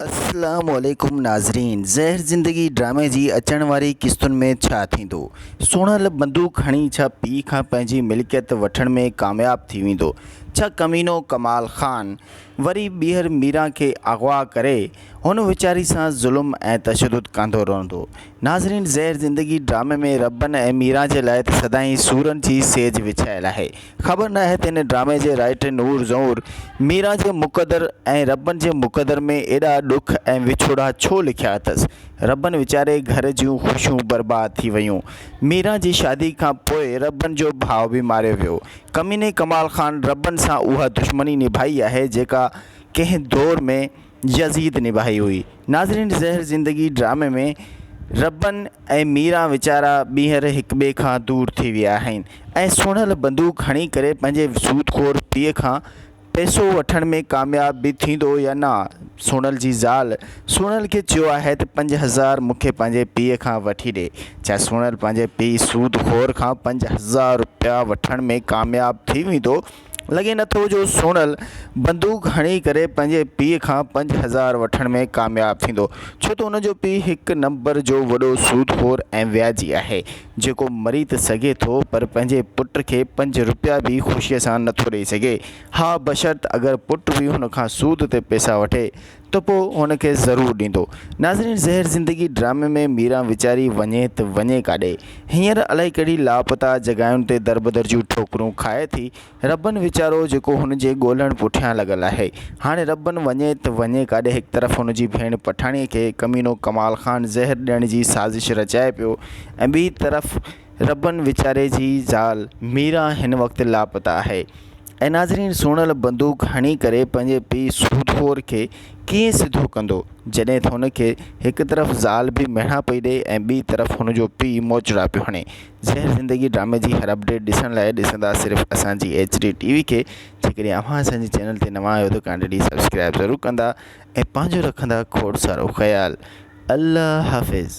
السلام عليڪم ناظرين زهر زندگي ڊرامي جي اچڻ واري قسطن ۾ ڇا ٿيندو سونهل بندوق هڻي ڇا پيء کان پنهنجي ملڪيت وٺڻ ۾ ڪامياب ٿي ويندو ڇا ڪمينو ڪمال خان وري ٻيهر ميران کي اغوا ڪري هن ويچاري سان ظلم ۽ تشدد ڪندو رهندو ناظرين زهر زندگي ڊرامي ۾ ربن ۽ ميران جي لاء ته سدائين سورن جي سيج وڇايل آهي خبر نه آهي ته هن ڊرامي جي رائٽر نور زئور ميران جي مقدر ۽ ربن جي مقدر ۾ ايڏا ڏک ۽ وڇوڙا ڇو لکيا اٿس. ربن ويچاري گهر جون خوشيون برباد ٿي ويون. ميران جي شادي کان پوء ربن جو ڀاء به ماريو ويو. ڪميني ڪمال خان ربن سان اها دشمني نڀائي آهي جيڪا ڪنهن دور ۾ يزيد نباهي هئي. ناظرين زهر زندگي ڊرامي ۾ ربن ۽ ميران ويچارا ٻيهر هڪٻئي کان دور ٿي ويا آهن ۽ سونهل بندوق هڻي ڪري پنهنجي سود خور پيء کان پئسو وٺڻ ۾ ڪامياب به ٿيندو يا نه سونهل جي زال سونهل کي چيو آهي ته پنج هزار مون کي پنهنجي پيء کان وٺي ڏي ڇا سونهل پنهنجي پيء سود خور کان پنج هزار روپيا وٺڻ ۾ ڪامياب ٿي ويندو لڳي نه ٿو جو سونل بندوق هڻي ڪري پنهنجي پيء کان پنج هزار وٺڻ ۾ ڪامياب ٿيندو ڇو ته ان جو پيء هڪ نمبر جو وڏو سود خور ۽ وياجي آهي جيڪو مري ته سگهي ٿو پر پنهنجي پٽ کي پنج روپيا به خوشي سان نه ٿو ڏئي سگهي ها بشرط اگر پٽ به هن کان سود تي پئسا وٺي ته پوء هن کي ضرور ڏيندو. ناظرين زهر زندگي ڊرامي ۾ ميران ويچاري وڃي ته وڃي ڪاڏي؟ هينئر الائي ڪهڙي لاپتا جڳهاين تي دربدر جون ٺوڪرون کائي ٿي. ربن ويچارو جيڪو هن جي ڳولهڻ پٺيان لڳل آهي. هاڻي ربن وڃي ته وڃي ڪاڏي هڪ طرف هن جي ڀيڻ پٺاڻيء کي ڪمينو ڪمال خان زهر ڏيڻ جي سازش رچائي پيو ۽ ٻي طرف ربن ويچاري جي زال ميران هن وقت لاپتا آهي. اي ناظرين سونل بندوق هڻي ڪري پنهنجي پيء سوڌور کي ڪيئن سڌو ڪندو جڏهن ته هن کي هڪ طرف زال به ميڻا پئي ڏئي ۽ ٻي طرف هن جو پيء موچڙا پيو هڻي زهر زندگي ڊرامي جي هر اپڊيٽ ڏسڻ لاء ڏسندا صرف اسان جي ايڇ ڊي ٽي وي کي جيڪڏهن اوهان اسان جي چينل تي نوان آهيو ته ڪانڊي ڊي سبسڪرائب ضرور ڪندا ۽ پنهنجو رکندا کوڙ سارو خيال الله حافظ